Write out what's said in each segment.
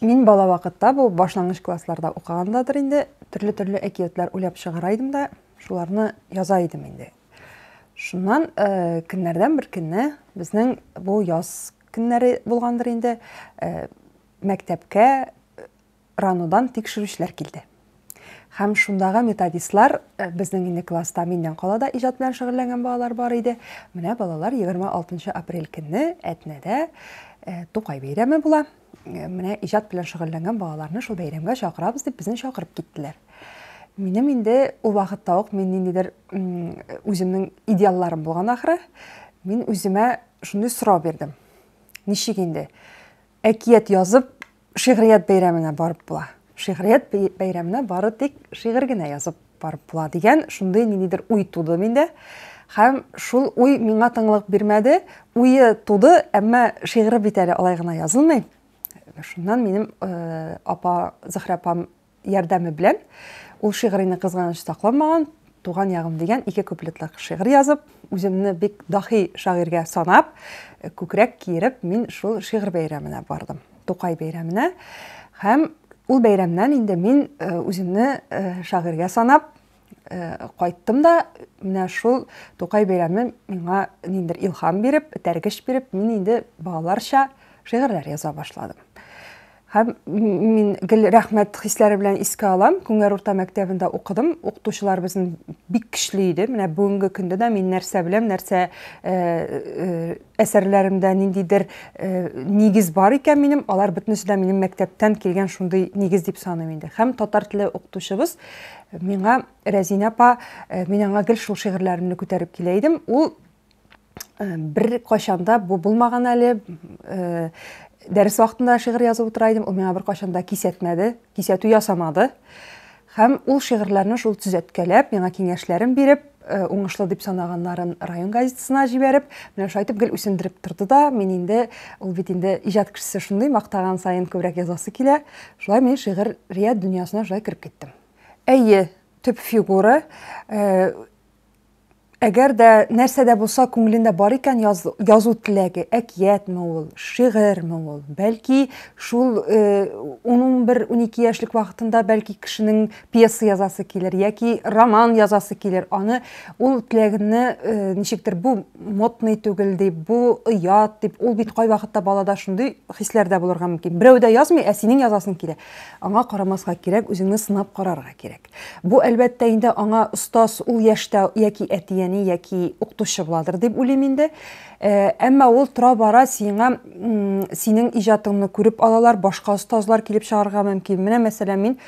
Мин бала вакытта бу башлангыч классларда укыгандадыр инде, төрле-төрле әкиятләр уйлап чыгара идем дә, шуларны яза идем инде. Шуннан э, көннәрдән бер көнне безнең бу яз көннәре булгандыр инде, э, мәктәпкә э, ранодан тикшерүчеләр килде. Һәм шундагы методистлар, э, безнең инде класста миннән кала да иҗат белән шөгыльләнгән балалар бар иде. Менә балалар 26 апрель көнне Әтнәдә э, Тукай бәйрәме була. Э, менә иҗат белән шөгыльләнгән балаларны шул бәйрәмгә чакырабыз дип безне чакырып киттеләр. Минем инде ул вакытта ук мин ниндидер үземнең идеалларым булган ахры. Мин үземә шундый сорау бирдем. Ничек инде әкият язып Шигърият бәйрәменә барып була. Шигърият бәйрәменә бары тик шигырь генә язып барып була дигән шундый ниндидер уй туды миндә. Һәм шул уй миңа тыңлык бирмәде. Уе туды, әмма шигыре бит әле алай гына язылмый. Шуннан минем э, апа Зөһрә апам ярдәме белән ул шигърине кызганыч сакламаган, Туган ягым дигән ике куплетлык шигырь язып, үземне бик дахи шагыйрьгә санап, күкрәк киереп, мин шул шигырь бәйрәменә бардым. Тукай бәйрәменә. Һәм ул бәйрәмнән инде мин э, үземне э, шагыйрьгә санап, Э, кайттым да менә шул тукай бәйрәме миңа ниндер илһам биреп этәргеч биреп мин инде балаларча шигырьләр яза башладым һәм мин гел рәхмәт хисләре белән искә алам күңәр урта мәктәбендә укыдым укытучылар безнең бик көчле иде менә бүгенге көндә дә мин нәрсә беләм нәрсә э, э, Әсәрләремдә ниндидер нигез бар икән минем, алар бөтенесе дә минем мәктәптән килгән шундый нигез дип саныйм инде. Һәм татар теле укытучыбыз миңа Рәзинә апа, мин аңа гел шул шигырьләремне күтәреп килә идем. Ул бер кайчанда бу булмаган әле, дәрес вакытында шигырь язып утыра идем, ул миңа бер кайчанда кисәтмәде, кисәтү ясамады һәм ул шигырьләрне шул төзәткәләп, миңа киңәшләрен биреп, э, уңышлы дип санаганнарын район газетасына җибәреп, менә шулай итеп гел үсендереп торды да, мин инде, ул бит инде иҗат кешесе шундый, мактаган саен күбрәк язасы килә. Шулай мин шигырият дөньясына шулай кереп киттем. Әйе, төп фигура, э, Әгәр дә нәрсә дә булса күңелендә бар икән яз, язу теләге, әкиятме ул, шигырьме ул, бәлки шул 11-12 э, яшьлек вакытында бәлки кешенең пьеса язасы килер яки роман язасы килер, аны ул теләгенне э, ничектер бу модный түгел дип, бу оят дип, ул бит кайвакытта балада шундый хисләр дә булырга мөмкин. Берәү дә язмый, ә синең язасың килә. Аңа карамаска кирәк, үзеңне сынап карарга кирәк. Бу, әлбәттә, инде аңа остаз ул яшьтә яки әти-әни, яки укытучы буладыр дип уйлыйм инде. Әмма ул тора-бара сиңа синең иҗатыңны күреп алалар, башка остазлар килеп чыгарга мөмкин. Менә мәсәлән, мин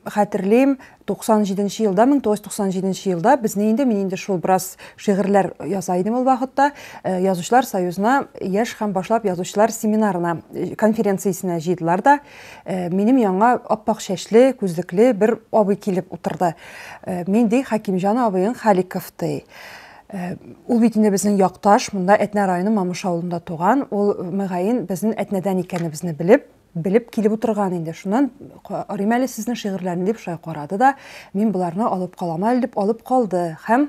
хәтерлим, 97 елда, 1997 елда безне инде мин инде шул бераз шигырьләр яза идем ул вакытта, язучылар союзына яшь һәм башлап язучылар семинарына, конференциясенә җыйдылар да, Минем яңа аппак чәчле, күзлекле бер абый килеп утырды. Мин ди Хакимҗан абыең Халиков ди. Ул бит инде безнең якташ, монда Әтнә районы Мамыш авылында туган. Ул мөгаен безнең Әтнәдән икәнебезне белеп, белеп килеп утырган инде. Шуннан карыйм әле сезнең шигырьләрне дип шулай карады да, мин боларны алып калам әле дип алып калды һәм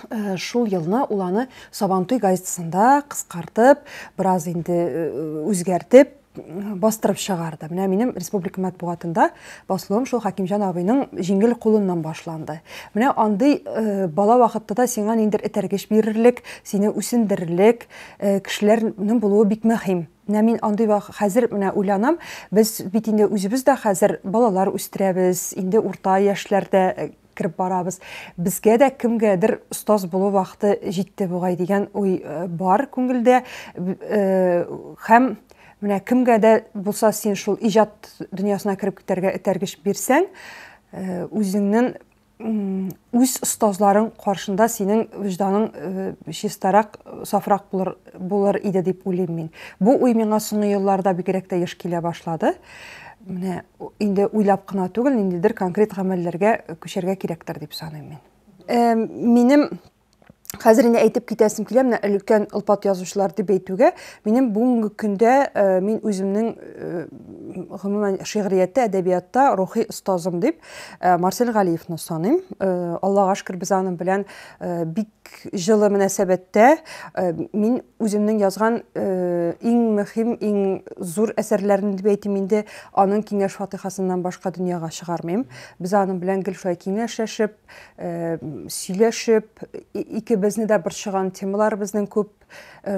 Э, шул елны ул аны сабантуй газетасында кыскартып бераз инде э, үзгәртеп бастырып чыгарды менә минем республика матбугатында басылуым шул хәкимҗан абыйның җиңел кулыннан башланды менә андый э, бала вакытта да сиңа ниндер этәргеч бирерлек сине үсендерерлек э, кешеләрнең булуы бик мөһим менә мин андый хәзер менә уйланам без бит инде үзебез дә хәзер балалар үстерәбез инде урта яшьләрдә э, кереп барабыз. Безгә дә кемгәдер остаз булу вакыты җитте бугай дигән уй э, бар күңелдә. Э, һәм менә кемгә дә булса син шул иҗат дөньясына кереп китәргә этәргеч бирсәң, э, үзеңнең үз остазларың каршында синең вижданың э, чистарак, сафрак булыр, булыр иде дип уйлыйм мин. Бу уй миңа соңгы елларда бигрәк тә еш килә башлады. Менә инде уйлап кына түгел, ниндидер конкрет гамәлләргә күчәргә кирәктер дип саныйм мин. Э, минем Хәзер инде әйтеп китәсем килә, менә өлкән олпат язучылар дип әйтүгә, минем бүгенге көндә э, мин үземнең э, гомумән шигърияттә, әдәбиятта рухи остазым дип э, Марсель Галиевны саныйм. Аллага шөкер, без аның белән бик җылы мөнәсәбәттә э, мин үземнең язган э, иң мөһим, иң зур әсәрләрен дип әйтим инде, аның киңәш фатихасыннан башка дөньяга чыгармыйм. Без аның белән гел шулай киңәшләшеп, э, сөйләшеп, икебезне дә борчыган темаларыбызның күп,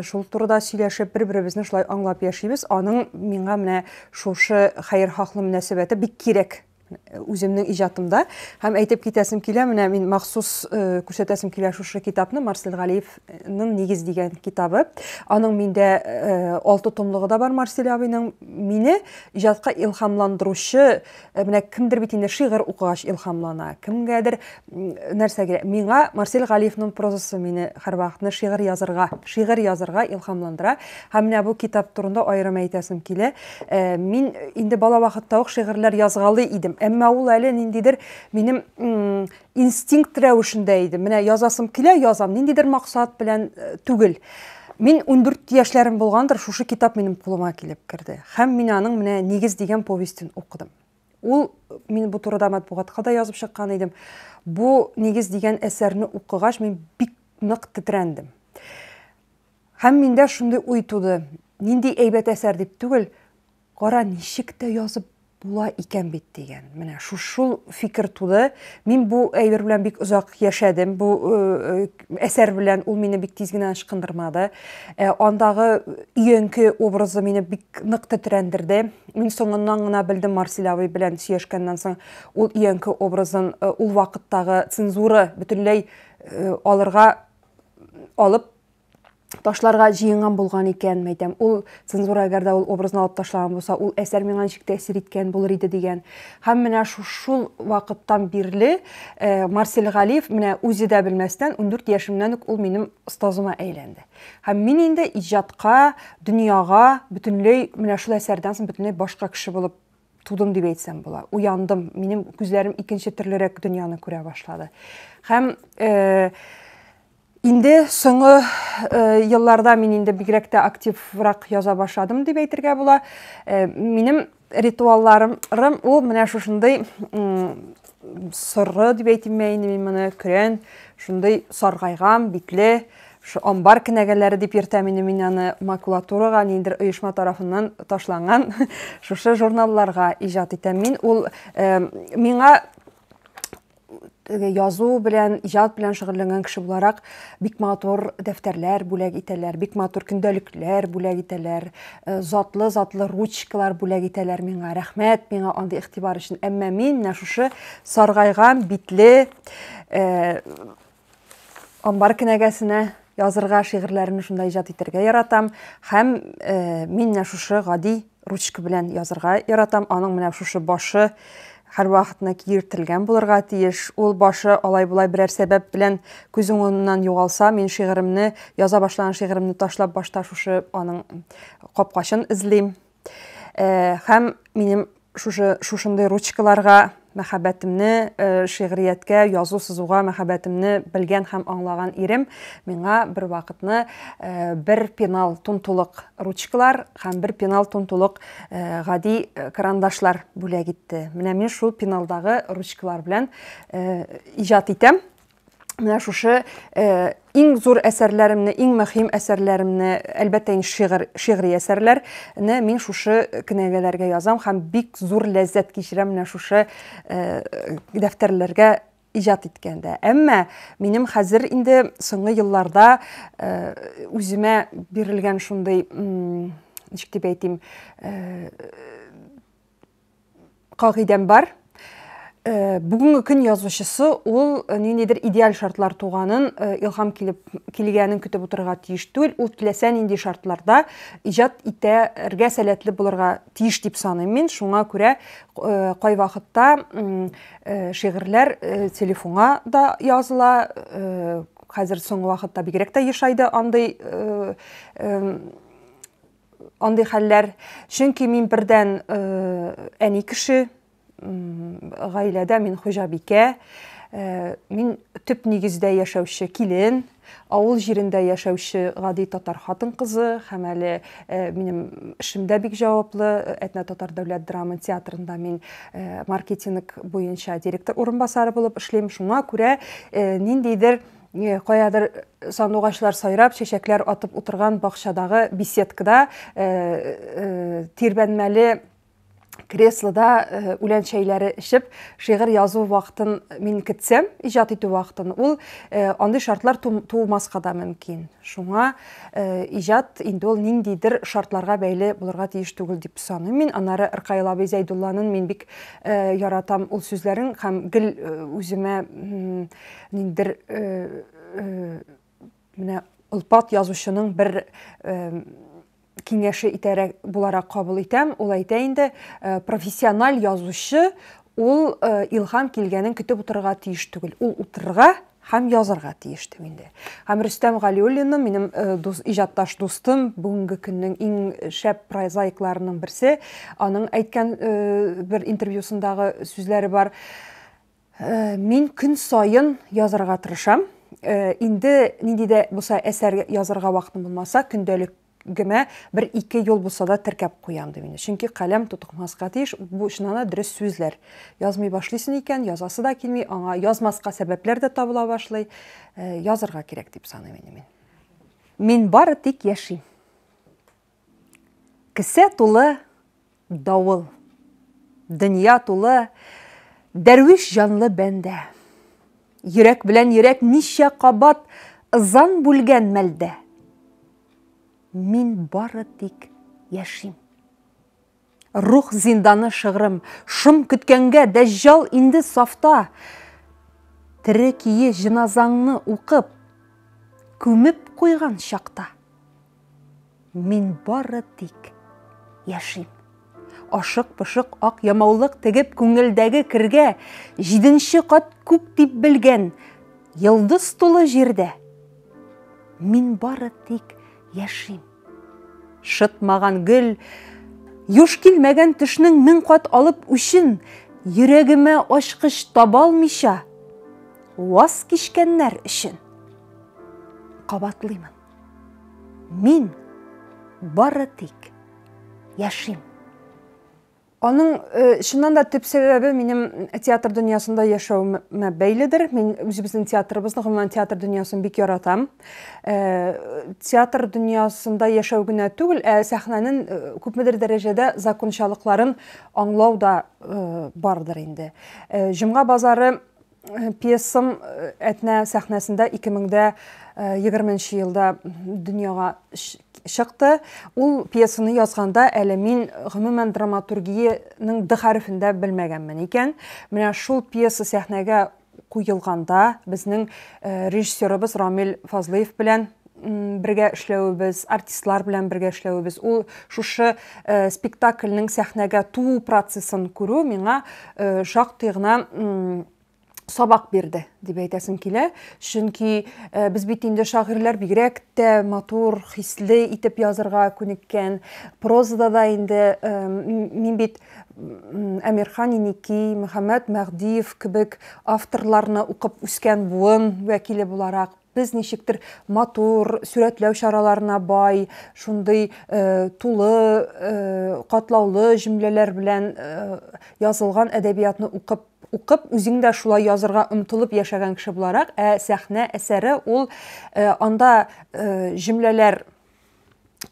шул турыда сөйләшеп, бер-беребезне шулай аңлап яшибез. Аның миңа менә шушы хәер хаклы мөнәсәбәте бик кирәк үземнең иҗатымда һәм әйтеп китәсем килә менә мин махсус э, күрсәтәсем килә шушы китапны марсель галиевның нигез дигән китабы аның миндә э, алты томлыгы да бар марсель абыйның мине иҗатка илһамландыручы э, менә кемдер бит инде шигырь укыгач илһамлана кемгәдер нәрсәгә миңа марсель галиевның прозасы мине һәрвакытны шигырь язырга шигырь язырга илһамландыра һәм менә бу китап турында аерым әйтәсем килә э, мин инде бала вакытта ук шигырьләр язгалый идем әмма ул әле ниндидер минем инстинкт рәвешендә иде менә язасым килә язам ниндидер максат белән э, түгел Мин 14 яшьләрем булгандыр, шушы китап минем кулыма килеп керде. Һәм мин аның менә Нигез дигән повестен укыдым. Ул, мин бу турыда матбугатка да язып чыккан идем, бу нигез дигән әсәрне укыгач, мин бик нык тетрәндем. Һәм миндә шундый уй туды, нинди әйбәт әсәр дип түгел, кара ничек тә язып була икән бит дигән. Менә шул шул фикер туды. Мин бу әйбер белән бик озак яшәдем. Бу э, э, әсәр белән ул мине бик тиз генә ычкындырмады. Ә, андагы өянке образы мине бик нык тетрәндерде. Мин соңыннан гына белдем Марсель абый белән сөйләшкәннән соң, ул өянке образын э, ул вакыттагы цензура бөтенләй э, алырга алып ташларга җыенган булган икән, мәйтәм, ул цензура әгәр дә ул образны алып ташлаган булса, ул әсәр миңа ничек тәэсир иткән булыр иде дигән. Һәм менә шул вакыттан бирле э, Марсель Галиев менә үзе дә белмәстән 14 яшемнән үк ул минем остазыма әйләнде. Һәм мин инде иҗатка, дөньяга бөтенләй менә шул әсәрдән соң бөтенләй башка кеше булып тудым дип әйтсәм була. Уяндым, минем күзләрем икенче төрлерәк дөньяны күрә башлады. Һәм э, Инде соңгы елларда мин инде бигрәк тә активрак яза башладым дип әйтергә була. Минем ритуалларым ул менә шушындый соры дип әйтимме инде мин моны, көрән, шундый саргайган, битле, шу амбар кенәгәләре дип йөртәм инде мин аны макулатурага ниндер оешма тарафыннан ташланган шушы журналларга иҗат итәм мин ул миңа язу белән, иҗат белән шөгыльләнгән кеше буларак, бик матур дәфтәрләр бүләк итәләр, бик матур көндәлекләр бүләк итәләр, э, затлы-затлы ручкалар бүләк итәләр миңа. Рәхмәт миңа андый игътибар өчен. Әмма мин менә шушы саргайган битле э, Амбар кенәгәсенә язырга, шигырьләрне шунда иҗат итәргә яратам һәм э, мин менә шушы гади ручка белән язырга яратам. Аның менә шушы башы һәрвакытны киертелгән булырга тиеш. Ул башы алай-болай берәр сәбәп белән күз уңыннан югалса, мин шигыремне, яза башлаган шигыремне ташлап башта шушы аның капкачын эзлим. Э, һәм минем шушы шушындый ручкаларга мәхәббәтемне э, шигърияткә язу сызуга мәхәббәтемне белгән һәм аңлаган ирем миңа бер вакытны э, бер пенал тунтулык ручкалар һәм бер пенал тунтулык э, гади карандашлар бүләк итте менә мин шул пеналдагы ручкалар белән иҗат итәм менә шушы э, иң зур әсәрләремне, иң мөһим әсәрләремне, әлбәттә инде шигырь, шигъри әсәрләрне мин шушы кенәгәләргә язам һәм бик зур ләззәт кичерәм менә шушы э, дәфтәрләргә иҗат иткәндә. Әмма минем хәзер инде соңгы елларда э, үземә бирелгән шундый, ничек дип әйтим, э, кагыйдәм бар. Э, бүгенге көн язучысы ул э, ниндидер идеаль шартлар туганын э, илһам килеп килгәнен көтеп утырырга тиеш түгел ул теләсә нинди шартларда иҗат итәргә сәләтле булырга тиеш дип саныйм мин шуңа күрә кайвакытта шигырьләр телефонга да языла хәзер соңгы вакытта бигрәк тә ешайды андый андый хәлләр, чөнки мин бердән әни кеше, гаиләдә мин хуҗабикә, мин төп нигездә яшәүче килен, авыл җирендә яшәүче гади татар хатын-кызы һәм әле минем эшем дә бик җаваплы, Әтнә татар дәүләт драма театрында мин маркетинг буенча директор урынбасары булып эшлим. Шуңа күрә ниндидер Э, каядыр э, сандугачлар сайрап, чәчәкләр атып утырган бакчадагы беседкада э, тирбәнмәле креслода үлән чәйләре эчеп, шигырь язу вакытын мин китсәм, иҗат итү вакытын, ул андый шартлар тумаска да мөмкин. Шуңа иҗат инде ул ниндидер шартларга бәйле булырга тиеш түгел дип саныйм. Мин аннары Ркаил абый Зәйдулланын мин бик яратам ул сүзләрен һәм гел үземә Ниндер менә Олпат язучының бер киңәше итәрәк буларак кабул итәм. Ул әйтә инде, э, профессиональ язучы ул э, илһам килгәнен көтеп утырырга тиеш түгел. Ул утырырга һәм язырга тиеш дип инде. Һәм Рөстәм Галиуллинны минем э, дус, иҗатташ дустым, бүгенге көннең иң шәп прозаикларының берсе, аның әйткән бер интервьюсындагы сүзләре бар. Мин көн саен язарга тырышам. Инде нинди дә булса әсәр язарга вакытым булмаса, көндәлек гемә бер ике юл булса да теркәп куям ди мине. Чөнки каләм тутыкмаска тиеш, бу чынана дөрес сүзләр. Язмый башлыйсын икән, язасы да килми, аңа язмаска сәбәпләр дә табыла башлый. Э, язырга кирәк дип саныйм инде мин. Мин бары тик яшим. Кесә тулы давыл. Дөнья тулы дәрвиш җанлы бәндә. Йөрәк белән йөрәк ничә кабат ызан бүлгән мәлдә. Мин бары тик яшим. Рух зинданы шыгрым, шом көткәнгә Дәҗҗал инде сафта! Тере кие җеназаңны укып, күмеп куйган чакта. Мин бары тик яшим. Ашык-пошык ак ямаулык тегеп күңелдәге кергә, җиденче кат күк дип белгән йолдыз тулы җирдә. Мин бары тик яшим. Шытмаган гөл, юш килмәгән төшнең мең кат алып үчен йөрәгемә ачкыч табалмыйча ваз кичкәннәр өчен кабатлыймын. Мин бары тик яшим. Аның, чыннан да, төп сәбәбе минем театр дөньясында яшәвемә бәйледер. Мин үзебезнең театрыбызны, гомумән, театр дөньясын бик яратам. Театр дөньясында яшәү генә түгел, ә сәхнәнең күпмедер дәрәҗәдә закончалыкларын аңлау да бардыр инде. Җомга базары Пьесам Әтнә сәхнәсендә 2020 нче елда дөньяга чыкты. Ул пьесаны язганда әле мин гомумән драматургиянең д хәрефендә белмәгәнмен икән. Менә шул пьеса сәхнәгә куелганда, безнең режиссерыбыз Рамил Фазлыев белән бергә эшләвебез, артистлар белән бергә эшләвебез, ул шушы э, спектакльнең сәхнәгә туу процессын күрү миңа э, шактый гына сабак бирде дип әйтәсем килә. Чөнки э, без бит инде шагыйрьләр бигрәк тә матур, хисле итеп язырга күнеккән. Прозада да инде мин бит Әмирхан Иники, Мөхәммәд Мәгъдиев кебек авторларны укып үскән буын вәкиле буларак, Без ничектер матур, сурәтләү чараларына бай, шундый тулы, катлаулы җөмләләр белән язылган әдәбиятны укып, укып, үзең дә шулай язырга омтылып яшәгән кеше буларак, ә сәхнә әсәре ул анда җөмләләр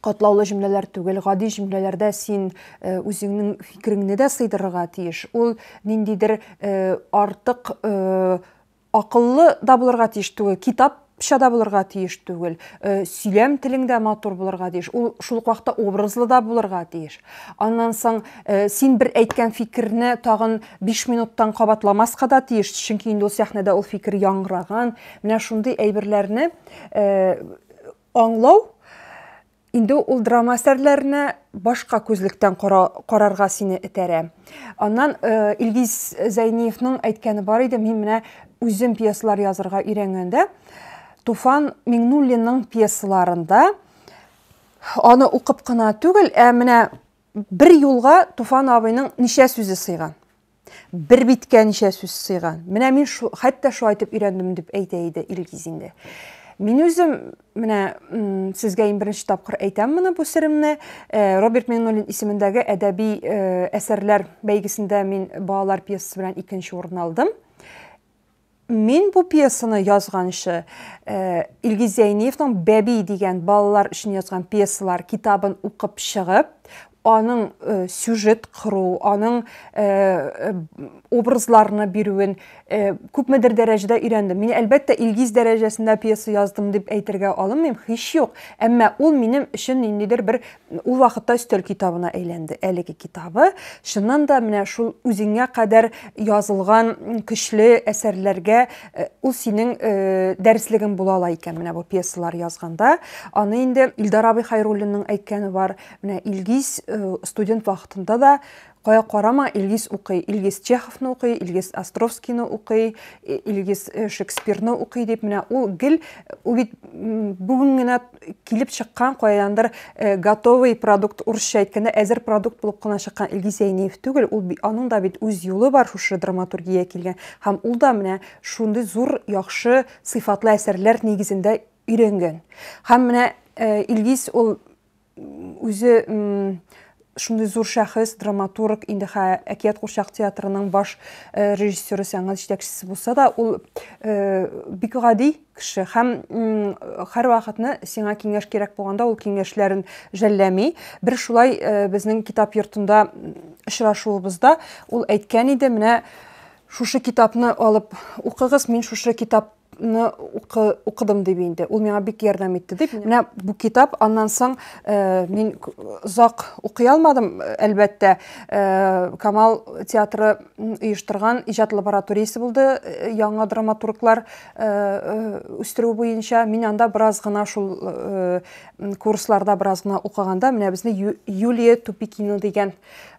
катлаулы җөмләләр түгел, гади җөмләләрдә син үзеңнең фикереңне дә сыйдырырга тиеш. Ул ниндидер артык Акыллы да булырга тиеш түгел, китап ча да булырга тиеш түгел, э, сөйләм телең дә матур булырга тиеш, ул шул ук вакытта образлы да булырга тиеш. Аннан соң э, син бер әйткән фикерне тагын биш минуттан кабатламаска да тиеш, чөнки инде ул сәхнәдә ул фикер яңгыраган. Менә шундый әйберләрне э, аңлау Инде ул драма әсәрләренә башка күзлектән кара, карарга сине этәрә. Аннан э, Илгиз Зәйниевның әйткәне бар иде, мин менә үзем пьесалар язырга өйрәнгәндә, Туфан Миңнуллинның пьесаларында аны укып кына түгел, ә менә Бер юлга Туфан абыйның ничә сүзе сыйган? Бер биткә ничә сүз сыйган? Менә мин шу, хәтта шулай итеп өйрәндем дип әйтә иде Илгиз инде. Мин үзем менә сезгә иң беренче тапкыр әйтәм моны бу серемне. Э, Роберт Миңнуллин исемендәге әдәби э, әсәрләр бәйгесендә мин балалар пьесасы белән икенче урын алдым. Мин бу пьесаны язганчы, Илгиз Зәйниевның Бәби дигән балалар өчен язган пьесалар китабын укып чыгып, аның сюжет кыру, аның образларны бирүен күпмедер дәрәҗәдә өйрәндем. Мин әлбәттә Илгиз дәрәҗәсендә пьеса яздым дип әйтергә алынмыйм, һич юк. Әмма ул минем өчен ниндидер бер Ул вакытта өстәл китабына әйләнде әлеге китабы. Чыннан да менә шул үзеңә кадәр язылган көчле әсәрләргә э, ул синең э, дәреслегең була ала икән менә бу пьесалар язганда. Аны инде Илдар абый Хайруллинның әйткәне бар. Менә Илгиз э, студент вакытында да Кая карама, Илгиз укый, Илгиз Чеховны укый, Илгиз Островскийны укый, Илгиз э, Шекспирны укый дип менә ул гел ул бит бүген генә килеп чыккан кайдандыр э, готовый продукт урысча әйткәндә әзер продукт булып кына чыккан Илгиз Зәйниев түгел, ул аның да бит үз юлы бар шушы драматургия килгән һәм ул да менә шундый зур яхшы сыйфатлы әсәрләр нигезендә өйрәнгән. Һәм менә э, Илгиз ул үзе шундый зур шәхес, драматург, инде хә әкият курчак театрының баш э, режиссеры, сәнгать җитәкчесе булса да, ул э, бик гади кеше һәм һәрвакытны сиңа киңәш кирәк булганда ул киңәшләрен жәлләми. Бер шулай э, безнең китап йортында очрашуыбызда ул әйткән иде, менә шушы китапны алып укыгыз, мин шушы китап ны укыдым дип инде. Ул миңа бик ярдәм итте. Дип, менә бу китап, аннан соң э, мин озак укый алмадым, әлбәттә. Э, Камал театры оештырган иҗат лабораториясе булды, э, яңа драматурглар үстерү буенча. Мин анда бераз гына шул курсларда бераз гына укыганда, менә безне Юлия Тупикина дигән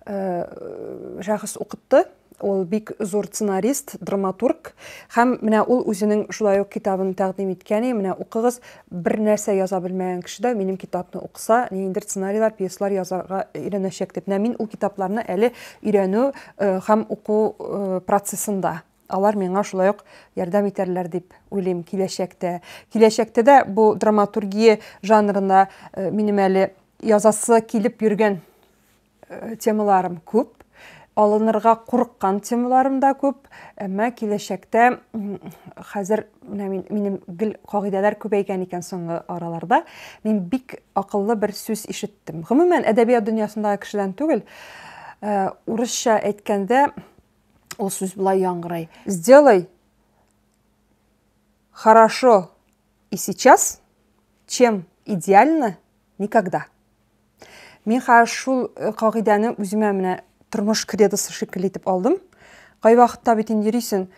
шәхес укытты. Ул бик зур сценарист, драматург һәм менә ул үзенең шулай ук китабын тәкъдим иткән. И, менә укыгыз, бер нәрсә яза белмәгән кеше дә минем китапны укыса, ниндидер сценарийлар, пьеслар язарга өйрәнәчәк дип. Менә мин ул китапларны әле өйрәнү э, һәм уку э, процессында алар миңа шулай ук ярдәм итәрләр дип уйлыйм киләчәктә. Киләчәктә дә бу драматургия жанрына э, минем әле язасы килеп йөргән Темаларым күп, алынырга курыккан темаларым да күп, әмма киләчәктә хәзер менә мин, минем гел кагыйдәләр күбәйгән икән соңгы араларда. Мин бик акыллы бер сүз ишеттем. Гомумән, әдәбият дөньясындагы кешедән түгел, э, урысча әйткәндә ул сүз болай яңгырый. Сделай хорошо и сейчас, чем идеально никогда. Мин хәзер шул э, кагыйдәне үземә менә тормыш кредосы шикелле итеп алдым. Кайвакытта бит инде йөрисең,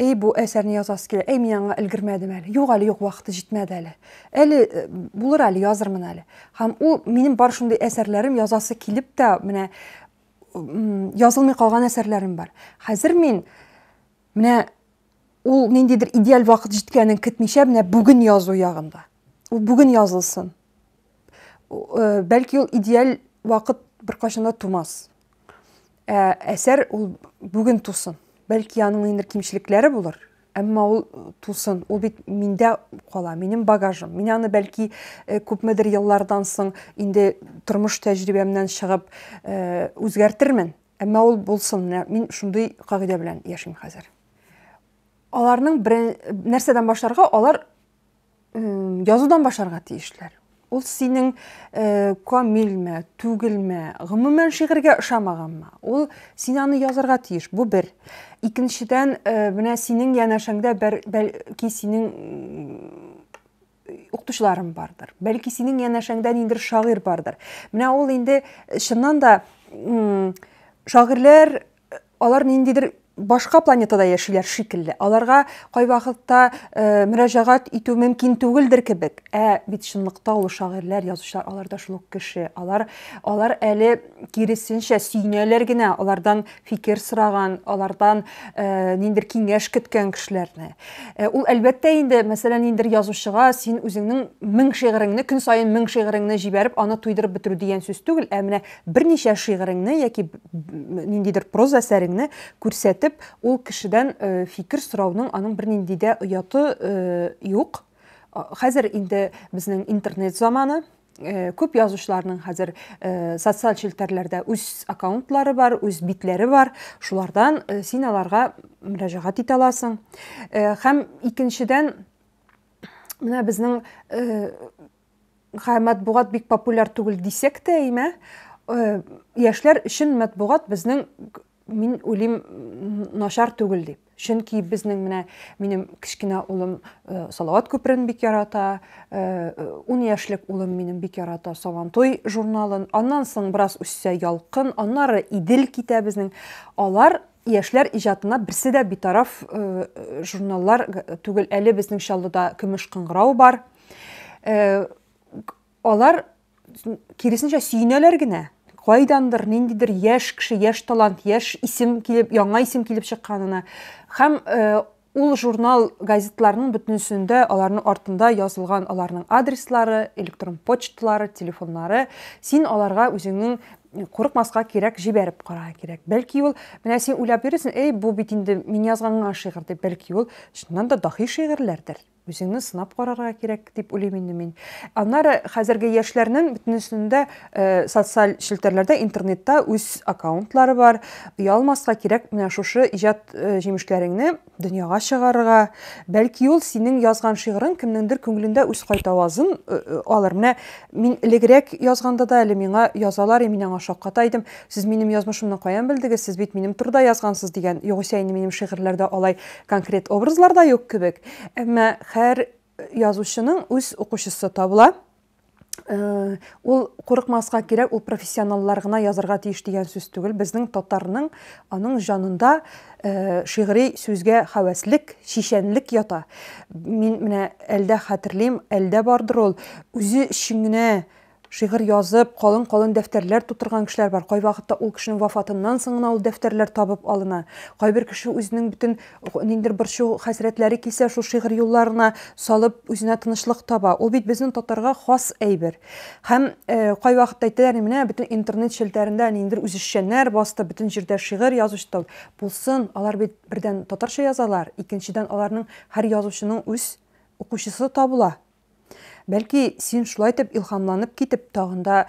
Эй, бу әсәрне язасы килә. Эй, мин аңа өлгермәдем әле. Юк әле, юк, вакыты җитмәде әле. Әле э, булыр әле, язырмын әле. Һәм ул минем бар шундый әсәрләрем язасы килеп тә менә язылмый калган әсәрләрем бар. Хәзер мин менә ул ниндидер идеаль вакыт җиткәнен көтмичә менә бүген язу ягында. Ул бүген язылсын. э, бәлки ул идеаль вакыт беркайчан да тумас. Ә әсәр ул бүген тусын. Бәлки аның ниндидер кимчелекләре булыр, әмма ул тусын. Ул бит миндә кала, минем багажым. Мин аны бәлки э, күпмедер еллардан соң инде тормыш тәҗрибәмнән чыгып э, үзгәртермен. Әмма ул булсын. Мин шундый кагыйдә белән яшим хәзер. Аларның нәрсәдән башларга? Алар язудан башларга тиешләр. Ул синең э, камилме, түгелме, гомумән шигырьгә ошамаганмы? Ул син аны язарга тиеш. Бу бер. Икенчедән, э, менә синең янәшәңдә бәлки синең укытучыларың бардыр. Бәлки синең янәшәңдә ниндер шагыйрь бардыр. Менә ул инде чыннан да шагыйрьләр алар ниндидер башка планетада яшиләр шикелле. Аларга кайвакытта э, мөрәҗәгать итү мөмкин түгелдер кебек. Ә бит чынлыкта ул шагыйрьләр, язучылар алар да шул ук кеше. Алар алар әле киресенчә сөйнәләр генә алардан фикер сораган, алардан э, ниндидер киңәш көткән кешеләрне. Э, ул әлбәттә инде, мәсәлән, ниндидер язучыга син үзеңнең мең шигыреңне, көн саен мең шигыреңне җибәреп, аны туйдырып бетерү дигән сүз түгел, ә менә Берничә шигыреңне яки ниндидер проза әсәреңне күрсәтеп, ул кешедән фикер сорауның аның бернинди дә ояты юк. Хәзер инде безнең интернет заманы, Э, күп язучыларның хәзер э, социаль челтәрләрдә үз аккаунтлары бар үз битләре бар шулардан э, син аларга мөрәҗәгать итә аласың һәм икенчедән менә безнең Хә, матбугат бик популяр түгел дисәк тә, әйме, э, яшьләр өчен матбугат безнең мин уйлыйм начар түгел дип. Чөнки безнең менә минем кечкенә улым э, Салават күперен бик ярата, э, ун яшьлек улым минем бик ярата Сабантуй журналын. Аннан соң бераз үссә Ялкын, аннары Идел китә безнең. Алар яшьләр иҗатына берсе дә битараф э, журналлар түгел. Әле безнең Чаллыда Көмеш кыңгырау бар. Э, алар киресенчә сөенәләр генә кайдандыр ниндидер яшь кеше яшь талант яшь исем килеп яңа исем килеп чыкканына һәм э, ул журнал газетларның бөтенесендә аларның артында язылган аларның адреслары электрон почталары телефоннары син аларга үзеңнең курыкмаска кирәк җибәреп карарга кирәк бәлки ул менә син уйлап йөрисең эй бу бит инде мин язган гына шигырь дип бәлки ул чыннан да дахи шигырьләрдер Үзеңне сынап карарга кирәк дип уйлыйм инде мин. Аннары хәзерге яшьләрнең бөтенесендә э, социаль челтәрләрдә, интернетта үз аккаунтлары бар. Оялмаска кирәк менә шушы иҗат э, җимешләреңне дөньяга чыгарырга. Бәлки ул синең язган шигырың кемнеңдер күңелендә үз кайтавазын э, э, алыр. Менә мин элегрәк язганда да әле миңа язалар, и мин аңа шакката идем. Сез минем язмышымны каян белдегез? Сез бит минем турыда язгансыз дигән. Югыйсә инде минем шигырьләрдә алай Конкрет образлар да юк кебек, әмма хәр язучының үз укучысы табыла. Э, ул курыкмаска кирәк, ул профессионаллар гына язарга тиеш дигән сүз түгел. Безнең татарның аның җанында э, шигъри сүзгә хәвәслек, шишәнлек ята. Мин менә әлдә хәтерлим, әлдә бардыр ул үзе өчен генә Шигырь язып, калын-калын дәфтәрләр тутырган кешеләр бар. Кайвакытта ул кешенең вафатыннан соң гына ул дәфтәрләр табып алына. Кайбер кеше үзенең бөтен ниндидер борчу, хәсрәтләре килсә, шул шигырь юлларына салып, үзенә тынычлык таба. Ул бит безнең татарга хас әйбер. Һәм кайвакытта әйтәләр, менә бөтен интернет челтәрендә ниндидер үзешчәннәр басты, бөтен җирдә шигырь язучтыл. Булсын, алар бит, бердән, татарча язалар, икенчедән, аларның һәр язучының үз укучысы табыла. Бәлки, син шулай итеп илһамланып китеп, тагын да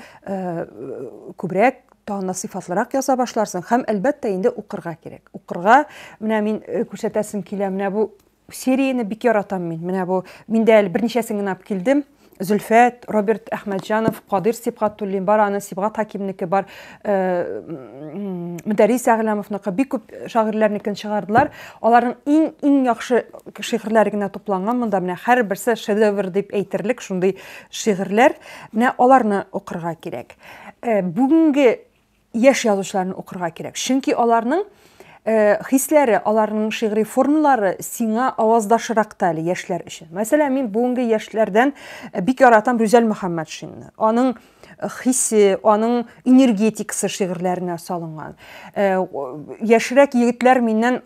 күбрәк тагын да сыйфатлырак яза башларсың һәм әлбәттә инде укырга кирәк укырга менә мин э, күрсәтәсем килә менә бу серияне бик яратам мин менә бу мин дә әле берничәсен генә алып килдем Зөлфәт, Роберт Әхмәтҗанов, Кадир Сибгатуллин бар, аны Сибгат Хакимнеке бар. Мөдәррис Әгъләмовныкы бик күп шагыйрьләрнекен чыгардылар. Аларның иң иң яхшы шигырьләре генә тупланган монда. Менә һәрберсе шедевр дип әйтерлек шундый шигырьләр. Менә аларны укырга кирәк. Э, бүгенге яшь язучыларны укырга кирәк. Чөнки аларның э, хисләре, аларның шигъри формалары сиңа аваздашрак та әле яшьләр өчен. Мәсәлән, мин бүгенге яшьләрдән э, бик яратам Рүзәл Мөхәммәтшинны. Аның хисе, аның энергетикасы шигырьләренә салынган. Э, яшьрәк егетләр миннән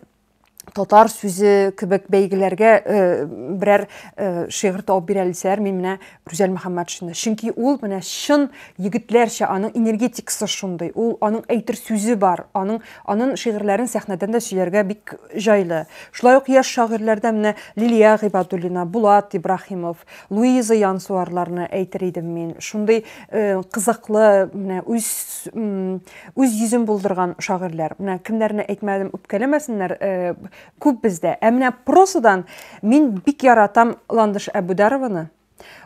татар сүзе кебек бәйгеләргә э, берәр э, шигырь табып бирә алсалар, мин менә Рүзәл Мөхәммәтшинны. Чөнки ул менә чын егетләрчә, аның энергетикасы шундый, ул аның әйтер сүзе бар, аның аның шигырьләрен сәхнәдән дә сөйләргә бик җайлы. Шулай ук яшь шагыйрьләрдә менә Лилия Гыйбадуллина, Булат Ибрахимов, Луиза Янсуарларны әйтер идем мин. Шундый кызыклы, менә үз үз йөзен булдырган шагыйрьләр. Менә кемнәрне әйтмәдем, үпкәләмәсеннәр, күп бездә. Ә менә прозадан мин бик яратам Ландыш Әбүдарованы.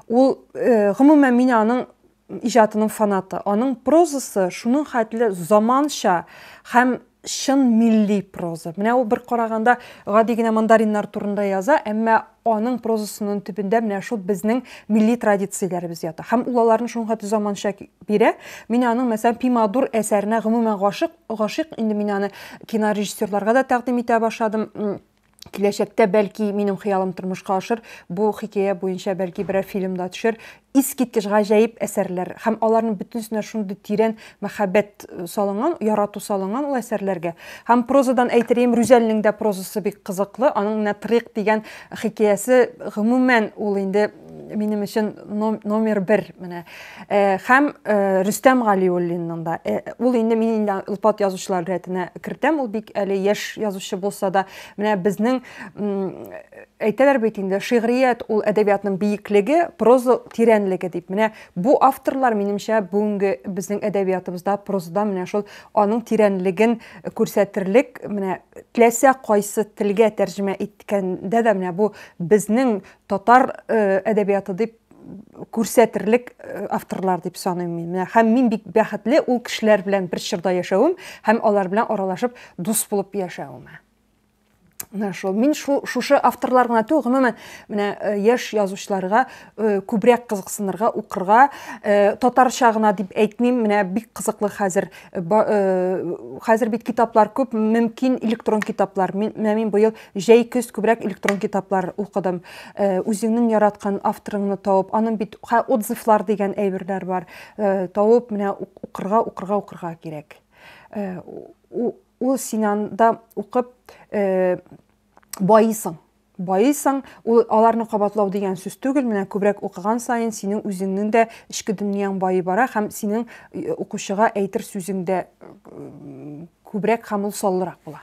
Ул, гомумән, мин аның иҗатының фанаты. Аның прозасы шуның хәтле заманча һәм чын милли проза. Менә ул бер караганда гади генә мандариннар турында яза, әмма аның прозасының төбендә менә шул безнең милли традицияләребез ята. Һәм ул аларны шуның хәтле заманча бирә. Мин аның, мәсәлән, Пимадур әсәренә гомумән гашык, гашыйк. Инде мин аны кинорежиссерларга да тәкъдим итә башладым. Киләчәктә, бәлки, минем хыялым тормышка ашыр, бу хикәя буенча, бәлки, берәр фильм да төшер. Искиткеч гаҗәеп әсәрләр һәм аларның бөтенесенә шундый тирән мәхәббәт э, салынган, ярату салынган ул әсәрләргә. Һәм прозадан әйтерем, Рүзәлнең дә прозасы бик кызыклы. Аның менә Трик дигән хикәясе, гомумән, ул инде минем өчен номер бер менә һәм рөстәм галиуллинның да ул инде мин инде илпат язучылар рәтенә кертәм ул бик әле яшь язучы булса да менә безнең әйтәләр бит инде шигърият ул әдәбиятның биеклеге проза тирәнлеге дип менә бу авторлар минемчә бүгенге безнең әдәбиятыбызда прозада менә шул аның тирәнлеген күрсәтерлек менә теләсә кайсы телгә тәрҗемә иткәндә дә менә бу безнең татар әдәбияты дип күрсәтерлек авторлар дип саныйм мин. Менә һәм мин бик бәхетле ул кешеләр белән бер чорда яшәвем һәм алар белән аралашып дус булып яшәвемә. Менә шул. Мин шул шушы авторлар гына түгел, гомумән, менә э, яшь язучыларга э, күбрәк кызыксынырга, укырга, э, татарча гына дип әйтмим, менә бик кызыклы хәзер хәзер бит китаплар күп, мөмкин электрон китаплар. Мин менә мин быел Җәй, көз күбрәк электрон китаплар укыдым. Э, үзеңнең яраткан авторыңны табып, аның бит ха, отзывлар дигән әйберләр бар. Э, табып, менә укырга, укырга, укырга кирәк. Э, ул син анда укып э, баисың. Баисың, ул аларны кабатлау дигән сүз түгел, менә күбрәк укыган саен синең үзеңнең дә эчке дөньяң байый бара һәм синең э, укучыга әйтер сүзең дә э, күбрәк һәм ул саллырак була.